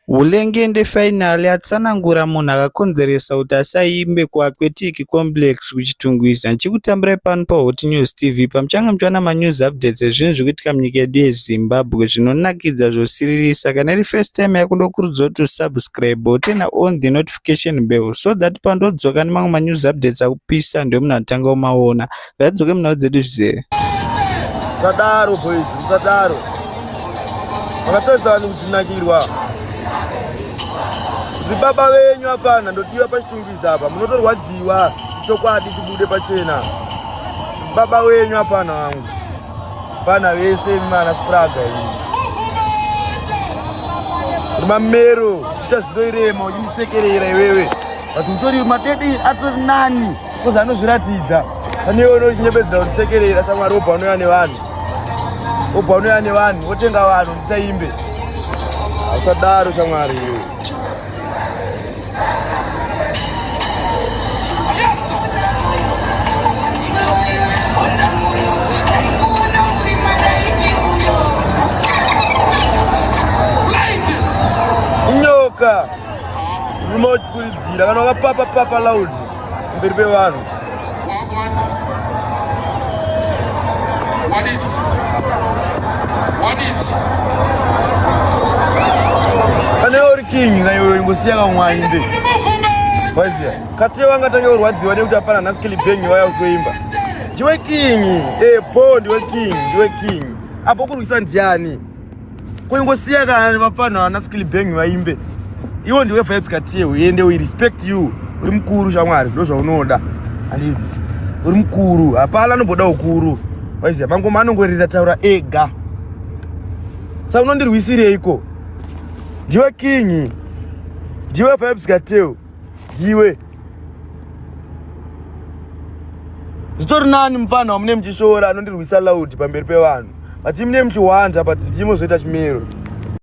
Hulengende Final yatsanangura munhu akakonzeresa kuti asaimbe kuAquatic Complex kuChitungwiza. Ndichikutambirai pano paHot News TV pamuchange muchiwana manews updates ezvinhu zviri kuitika munyika yedu yeZimbabwe zvinonakidza zvosiririsa. Kana iri first time yako ndokurudzira kuti usubscribe wotena on the notification bell so that pandodzoka nemamwe manews updates akupisa ndiwe munhu anotanga kumaona. Ngadzoke munhau dzedu zvizere. Musadaro boys, musadaro. Makatadza vanhu kutinakirwa. Zvibaba venyu hapana ndotiwa pachitungiza apa munotorwadziwa chokwadi chibude pachena. Baba wenyu hapana wangu. Vana vese vana spraga iyi. Mamero, chita zino irema, uchisekerera iwewe. Vati utori matete atori nani? kozi anozviratidza pane iwe unochinebedzera kuti sekerera shamwari wobva unouya nevanhu wobva unouya nevanhu wotenga vanhu ndisaimbe asadaro shamwari iwe inyoka rimotfulidzira kana wakapapa papa laudi mberi pevanhu What is? What is? Pane uri king na iwe imbosiya kamwanyi nde. Vaziya. Kati wanga tange urwadziwa nekuti hapana nhasi kilibhengi waya usiweimba. Ndiwe king. Eh, bo ndiwe king, ndiwe king. Apo kurwisa ndiani? Kungosiya kana vapfana vana skill bang vaimbe. Iwo ndiwe vibes katie uende we respect you. Uri mkuru shamwari ndozvaunoda. Andizi. Uri mkuru. Hapana anoboda ukuru. Waiziya mangoma anongorira taura ega. Sa unondirwisireiko? Ndiwe king. Ndiwe vibes katie. dziwe zvitori nani mupfanha wamune muchishoora anondirwisa loud pamberi pevanhu but imune muchihwanja but ndimo zvoita chimiro